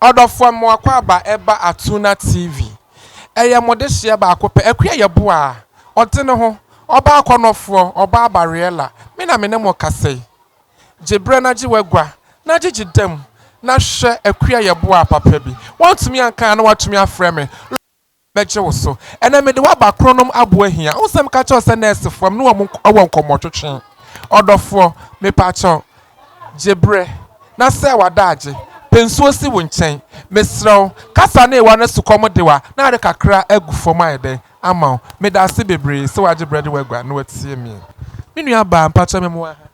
Ɔdɔfoɔ Mmoakwaaba ɛba Atuna TV. Ɛyɛ mo dehyeɛ baako pɛ. Akua Yeboah a ɔde ne ho, ɔba akɔnnɔfoɔ, ɔba abariella, me na me ne mo kasa yi. Gye berɛ na gye w'agua, na gyegye dam, na hwɛ Akua Yeboah papa bi. Woantumi anka a na woatumi afrɛ me. bɛgye wo so. Ɛnɛ mede wo aba Kronom aboa hia. Wohu sɛ meka kyerɛ wo sɛ nɛɛsefoɔ, me ne wɔn wɔ nkɔmmɔtwetwe. Ɔdɔfoɔ, mepakyɛw, gye berɛ na sɛe w'adaagye. Pɛ nsuo si wo nkyɛn. Mesrɛ wo, kasa ne ewa na sukɔm de wo a, na ade kakra agu fam ayɛ dɛn ama wo? Medaase bebree sɛ wagye berɛ de wo agua na watie me. Me nuabaa, mpakyɛw me mmoa ha.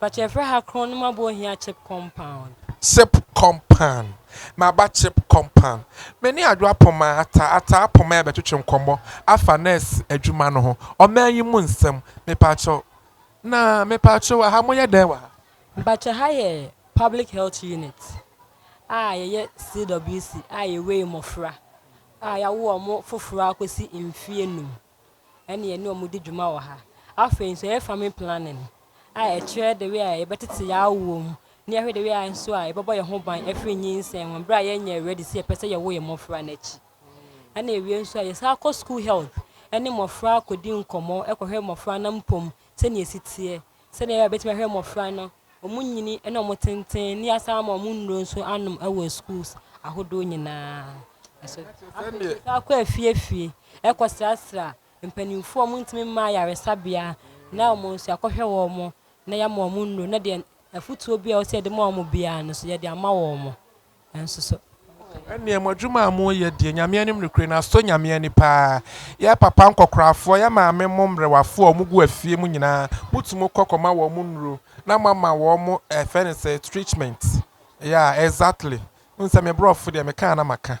Patch yɛfrɛ ha kron no ma bɔ hia chip compound. Chip compound maba chip compound. Me ne Adwo Apoma, Ataa, Ataa Apoma yɛbɛtwetwe nkɔmmɔ afa nurse adwuma no ho, ɔman yi mu nsɛm. Mepaakyɛw, na mepaakyɛw aha moyɛ dɛn wɔ ha? Mpakyɛ ha yɛ public health unit a yɛyɛ CWC a yɛwei mmɔfra a yɛawo wɔn foforɔ akɔsi mfeɛ num. ɛne yɛne wɔn di dwuma wɔ ha. Afei nso yɛyɛ family planning a ɛkyerɛ the way a yɛbɛtete yɛn awoɔ mu na yɛahwɛ the way a nso a yɛbɛbɔ yɛn ho ban afiri nyinsɛn ho berɛ a yɛnyɛ ready sɛ yɛpɛ sɛ yɛwo yɛn mmɔfra no akyi. Ɛna awie nso a yɛsan kɔ school health ɛne mmɔfra kɔdi nkɔmmɔ kɔhwɛ mmɔfra no mpom sɛdeɛ ɛsi teɛ Sɛdeɛ ɛbɛyɛ a wɔbɛtumi ahwɛ mmɔfra no, wɔn nyini ne wɔn tenten, ne yɛasan ama wɔn nnuro nso anom wɔ schools ahodoɔ nyinaa. So afei saa kɔ afiefie ɛkɔsrasra mpanimfoɔ a wɔntumi mma ayaresabea na wɔn nso yɛakɔhwɛ wɔn na yɛama wɔn nnuro na deɛ afutuo bi a ɛwɔ sɛ yɛde ma wɔn biara no nso yɛde ama wɔn. Nanso sɛ ɔkɔ yɛ. Ɛnneɛ mo adwuma a moreyɛ deɛ, Nyame anim nokorɛ no, asɔ Nyame ani paa. Yɛn papa nkɔkorafoɔ, yɛn maame mo mmerewafoɔ a wɔgu afie mu nyinaa, motu mo kɔ kɔma wɔn nnuro, na moama wɔn mo eh, ɛfrɛ no sɛ, treatment. Yeah, exactly. Wohu sɛ me borɔfo deɛ, meka a na maka.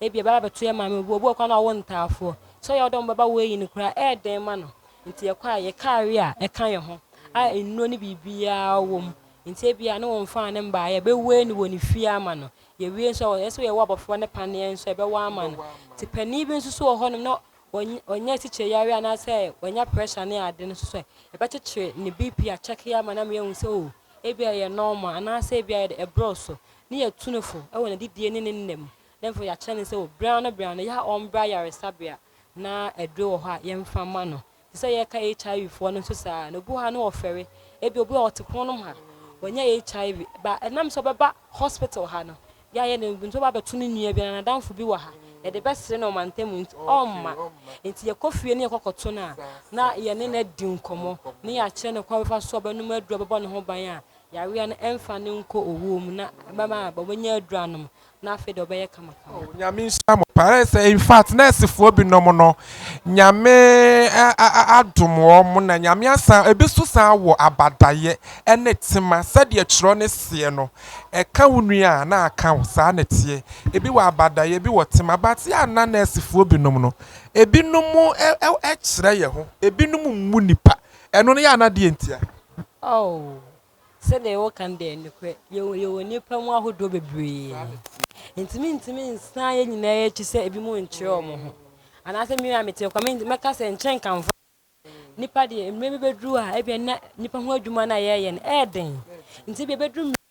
Ebia ɛbɛba abɛto yɛn maame, obi wɔ kwan a ɔwɔ ntaafoɔ. Sɛ ɔyɛ wo dɛ a mobɛba wei ayi no koraa ɛyɛ den ma no. Nti yɛkɔ a, yɛ kaare a ɛka yɛn ho a nnuro ne biribiara wɔ mu. Nti ebia ne wɔmfaa ne mmaa, yɛbɛwei no wɔ ne fie ama no. Yɛwie nso a, ɛyɛ sɛ yɛwɔ abɔfra no paneɛ nso a, yɛbɛwɔ ama no. Nti panin bi nso so wɔ hɔnom na ɔnya sikyereyareɛ anaasɛ wanya pressure ne ade no nso so ɛ, yɛbɛkyekyere ne BP akyɛke ama no ama yɛahu sɛ o, ebia ɛyɛ normal anaasɛ ebia ɛboro so. Ne yɛ tu no fo wɔ n'adidie ne ne nna mu, na afei yɛakyerɛ no sɛ o, berɛ ano berɛ ano, yɛ a ɔmbra ayaresabea na aduro wɔ hɔ a yɛmfa mma no. Te sɛ yɛreka HIV foɔ no nso saa na obi wɔ ha no ɔfɛre, ebi obi wɔ hɔ ɔte pono nom ha, wanya HIV, ba ɛnam sɛ ɔbɛba hospital ha no, yɛayɛ no nso ɔba abɛto ne nua bi anaa n'adamfo bi wɔ ha, yɛde bɛsere no ɔmantam mu nti ɔmma. Nti yɛkɔ fie ne yɛkɔ kɔto no a, na yɛne no adi nkɔmmɔ, ne yɛakyerɛ no kwan a ɔbɛfa so a ɔbɛnom aduro a ɛbɛbɔ ne ho ban a, Yareɛ no ɛmfa no nkɔ owuo mu na ɛbɛma ɔbɛnya aduro anom na afei deɛ ɔbɛyɛ kamakama. Oh nyame nhyira mo paa ayɛ sɛ in fact nurse foɔ bi nom no nyame adom wɔn na nyame asan ebi so san wɔ abadayɛ ɛne tema sɛdeɛ twerɛ no seɛ no ɛka wo nua a na aka wo saa na ɛteɛ ebi wɔ abadayɛ ebi wɔ tema but yɛ a na nurse foɔ bi nom no ebi nom ɛkyerɛ yɛ ho ebi nom mmu nipa Ɛno no yɛ anaa deɛ ntia? Oh, sɛdeɛ woka no deɛ nokorɛ, yɛwɔ yɛwɔ nnipa mu ahodoɔ bebree. Nti mentumi nsan yɛn nyinaa akyi sɛ ebi mu nkyerɛ wɔn ho. Anaasɛ me a mete kwa me mɛka sɛ nkyɛ nka mfa nipa deɛ mmerɛ bi bɛduru a ebia na nipa ho adwuma no a yɛyɛ no ɛyɛ den. Nti ebia bɛduru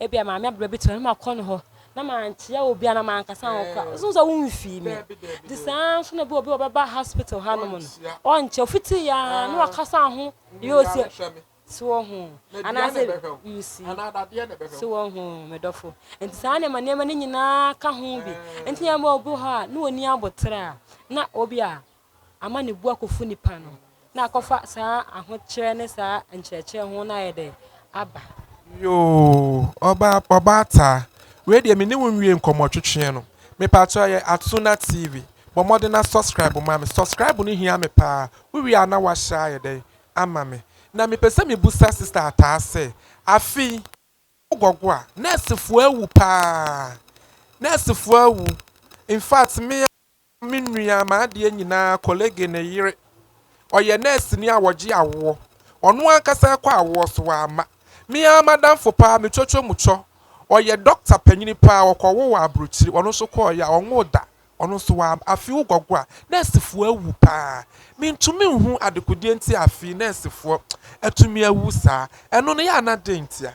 Ebia maame abena bi te hɔ na makɔ ne hɔ na mankyia obi a na mankasa ho kora ɔsom sɛ womfii me de saa nso na bi obi ɔbɛba hospital hanom no ɔnkyɛ ofiti ya na wakasa ho yɛ osi so wɔ ho anaasɛ yusi so wɔ ho medɔfo nti saa nneɛma nneɛma no nyinaa ka ho bi nti yɛn bɔ obi hɔ a na wɔni abotere a na obi a ama ne bo akɔfu nipa no na akɔfa saa ahokyerɛ ne saa nkyerɛkyerɛ ho no ayɛ dɛ aba. Yoo ɔbaa ɔbaa taa wei deɛ me ne wo nwie nkɔmmɔ twetweɛ no me paatɔ ɛyɛ Atsuna TV bɔ mmɔden na subscribe ma me subscribe no hia me paa wo wie a na wa share ayɛ dɛn ama me na me pɛ sɛ me busa sister ataa sɛ afe yi wo gɔgo a nurse foɔ awu paa nurse foɔ awu infact me Me nua, m'adeɛ nyinaa, Colege ne yere. Ɔyɛ nɛɛseni a ɔgye awoɔ. Ɔno ankasa rekɔ awoɔ so, wamma. Me ara m'adamfo paa, me twotwo mu twɔ. Ɔyɛ dɔkta panyini paa, ɔkɔwoo wɔ aburokyire. Ɔno nso kɔeɛ a, ɔnwoo da. Ɔno nso wamma. Afei wo gɔgɔ a, nɛɛsefoɔ awu paa. Mentumi nhu adekodeɛ nti a afei nɛɛsefoɔ atumi awu saa. Ɛno no, yɛ a na dɛn ntia?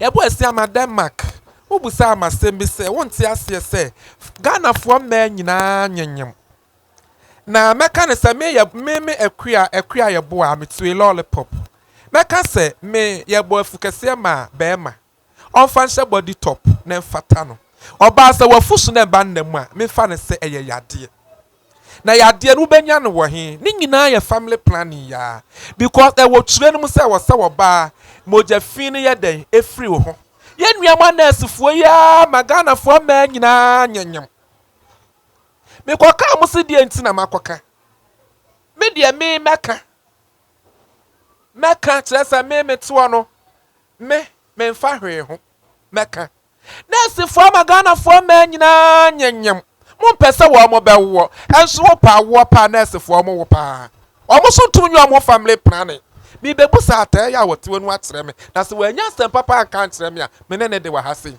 Yɛbɔɔ asu ama Denmark. Wobisaa me asɛm bi sɛ, Wonte aseɛ sɛ Ghanafoɔ mmaa nyinaa nyenyem? Na mɛka no sɛ me yɛ me me akua akua yɛ boa me tue lollipop. Mɛka sɛ me yɛbɔ afukɛseɛ maa bɛrima. Ɔmfa nhyɛ body top na ɛmfata no. Ɔbaa sɛ wafu so na ɛba nna mu a, memfa no sɛ ɛyɛ yadeɛ. Na yadeɛ no wobɛnya no wɔ he? Ne nyinaa yɛ family planning yaa because ɛwɔ twerɛ no mu sɛ ɛwɔ sɛ ɔbaa mogya fii no yɛ dɛn? Ɛfiri wo ho. Yɛn nua mo anɛɛsefoɔ yi ara ma Ghanafoɔ mmaa nyinaa nyemnyem. Mekɔ kaa mo se deɛ nti na makɔ ka. Me deɛ me mɛka. Mɛka kyerɛ sɛ me metoɔ no me memfa hwee ho. Mɛka. Nɛɛsefoɔ ama Ghanafoɔ mmaa nyinaa nyenyem, mompɛ sɛ wɔn bɛwoɔ, nso wopɛ awoɔ paa nɛɛsefoɔ mo wo paa, wɔn so ntum nyɛ wɔn ho family planning, merebɛbu saa atɛɛ yɛ a wɔte wɔ nu akyerɛ me, na sɛ wɔannya asɛm papa anka ankyerɛ me a, me ne ne de wɔ ha sei.